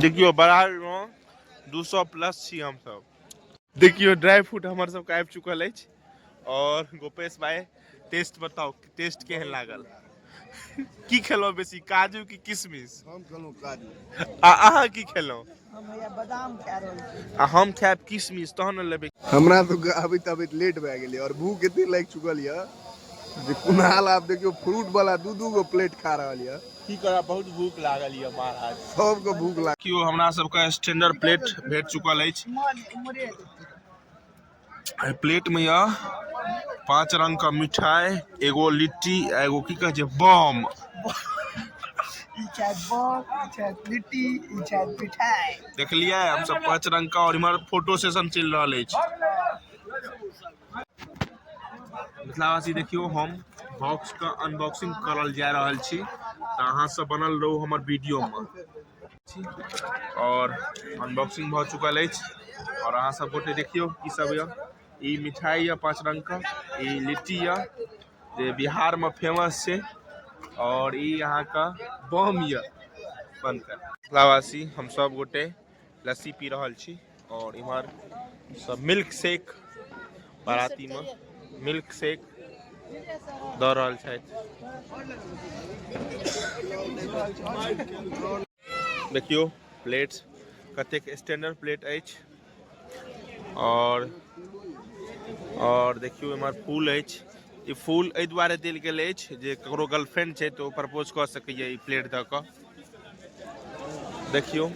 देखियो बराबर में दू सौ प्लस छी हम सब देखियो ड्राई फ्रूट हमर सब आबि चुकल अछि और गोपेश भाई टेस्ट बताओ टेस्ट केहन लागल की खेलहुँ बेसी काजू की किशमिश हम कहलहुँ काजू आ अहाँ की खेलहुँ हम हैया बादाम खा रहल छी आ हम खायब किशमिश तहन ने लेबै हमरा तो अबैत अबैत लेट भए गेलै और भूख एते लागि चुकल यऽ जे कुणाल आब देखियौ फ्रूट वाला दू दू गो प्लेट खा रहल यऽ की करब बहुत भूख लागल यऽ महाराज सबके भूख लागल केओ हमरा सबके स्टैंडर्ड प्लेट भेट चुकल अछि मोर मोरे एहि प्लेट में यह पांच रंग का मिठाई एगो लिट्टी आ एगो की कहे छै बम ई चाहे बम ई चाहे लिट्टी ई चाहे मिठाई देखलियै हम सब पांच रंग का और इमहर फोटो सेशन चल रहा है मिथिलावासी देखियो हम बॉक्स का अनबॉक्सिंग करल जा रहा छी तो अहाँ सब बनल रहो हमारे वीडियो में आओर अनबॉक्सिंग भऽ चुकल अछि आओर अहाँ सब गोटे देखियौ की सब यऽ ई मिठाइ यऽ पाँच रंग के ई लिट्टी यऽ जे बिहार मे फेमस छै आओर ई अहाँ के बम यऽ बनकर मिथिलावासी हम सब गोटे लस्सी पी रहल छी और इमहर सब मिल्क शेक बाराती में मिल्क शेक द रहल छै देखियो प्लेट कतेक स्टैंडर्ड प्लेट अछि और और देखियो इमहर फूल अछि ई फूल एहि दुआरे देल गेल अछि जे ककरो गर्लफ्रेंड छै तऽ ओ प्रपोज कऽ सकैए ई प्लेट दऽ कऽ देखियौ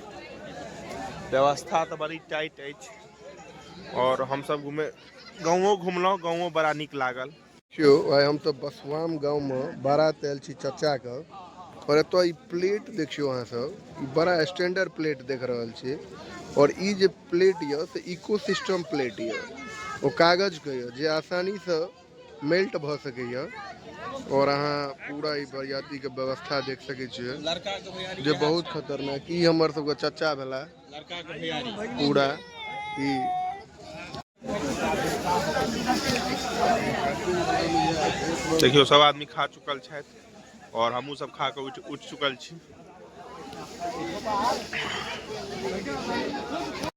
व्यवस्था तऽ बड़ी टाइट अछि और हम सब घूमे गाँवो घुमलहुँ गाँवो बड़ा नीक लागल देखियौ आइ हम तऽ बसवाम गाँवमे बारात आयल छी चचाके और एतऽ ई प्लेट देखियौ अहाँ सब ई बड़ा स्टैंडर्ड प्लेट देख रहल छी और ई जे प्लेट यऽ से इको सिस्टम प्लेट यऽ ओ कागजके यऽ जे आसानीसँ मेल्ट भऽ सकैए आओर अहाँ पूरा ई बरियातीके व्यवस्था देख सकै छियै जे बहुत खतरनाक ई हमर सबके चचा भेला पूरा ई देखियौ सब आदमी खा चुकल छथि आओर हमहूँ सब खा कऽ उठि उठि चुकल छी